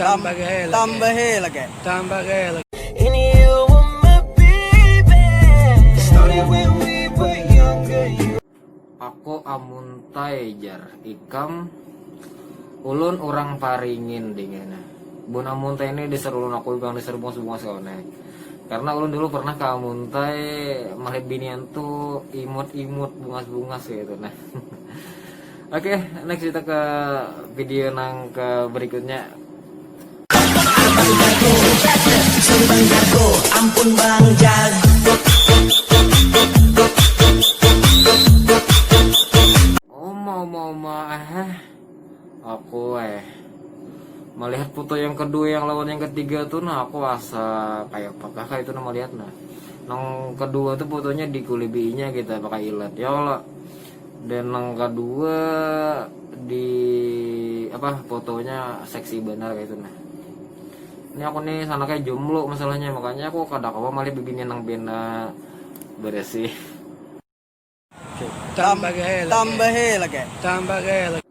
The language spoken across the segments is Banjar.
Tambah gaya lagi. Tambah gaya lagi. Tambah gaya lagi. Ini you were my baby. Started when we were younger. You... Aku amuntai jar ikam ulun orang paringin dingena bun amuntai ini diseru ulun aku bilang diseru bungas bungas kawan karena ulun dulu pernah ke amuntai melihat binian tuh imut imut bungas bungas gitu nah Oke, next kita ke video nang ke berikutnya. Ampun Bang Jago. Oma oma oma eh. Aku eh melihat foto yang kedua yang lawan yang ketiga tuh nah aku asa kayak apakah kayak itu nama lihat nah yang kedua tuh fotonya di kulibinya kita gitu, pakai ilat ya Allah dan nang kadua di apa fotonya seksi benar kayak itu nah ini aku nih sana kayak jomblo masalahnya makanya aku kada kawa malih bibini nang bena beresih tambah tambah lagi tambah lagi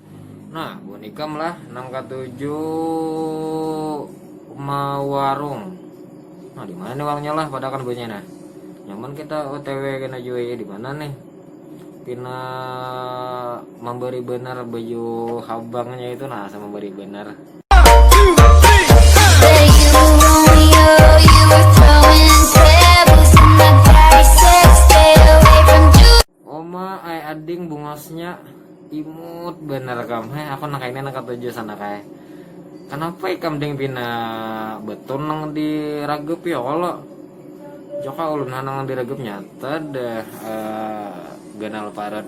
Nah, bunikam lah nang katuju mawarung. Nah, di mana nih warungnya lah pada kan bunyi nah. Nyaman kita OTW kena jua ya di mana nih? Pina memberi benar baju habangnya itu nah sama memberi benar. Oma ai ading bungosnya imut bener kam. Heh, aku nang kaini nang ketujuh sana kai. Kenapa ikam ding pina betul nang diragep ya kalo? Joka ulun nang diragep nyata dah uh, ganal parat.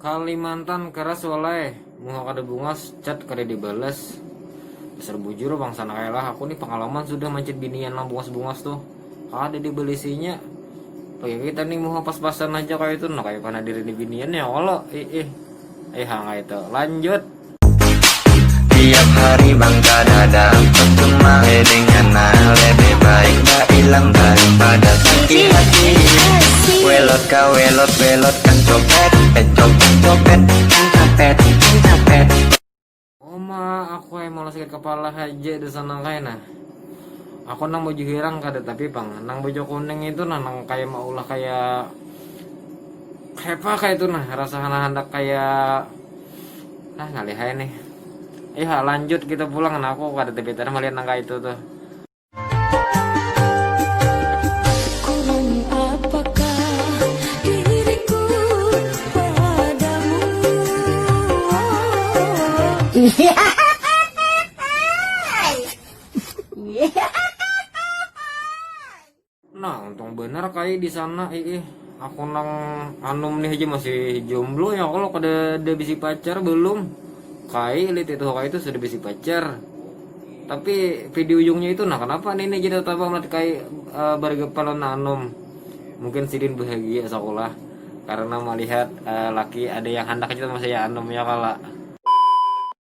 Kalimantan keras walai, muha kada bungas, chat kada dibalas. Dasar bujur bangsa anak elah, aku nih pengalaman sudah manchat binian nang bungas-bungas tuh. Kada dibalisinya. Bagi kita nih muha pas-pasan aja kaya itu, nah kaya panadir ini binian ya kalo. Ih ih. Ih hang kaya itu. Lanjut. Tiap hari bang kada dapat cuma ledeng Ngana lebih baik bailang daripada sakit hati Welot ka welot welot kan copet Eh copet copet kan copet kan copet Uma aku ai mau sakit kepala haja dasar nang kaya nah Aku nang baju hirang kada tapi pang nang baju kuning itu nah nang kaya maulah kaya kayapa kaya itu nah rasanya handak kaya. ah ngalih aja nih ayo eh, lanjut kita pulang nah aku kada tebetan melihat nangka itu tuh Yeah. Nah, untung benar kai di sana ih. Aku nang anum nih aja masih jomblo ya kalau kada ada bisi pacar belum. Kai lihat itu kai itu sudah bisi pacar. Tapi video ujungnya itu nah kenapa nih ini jadi tambah melihat kai e, bergepalan anum. Mungkin sidin bahagia sekolah karena melihat e, laki ada yang hendak aja sama saya anum ya kala.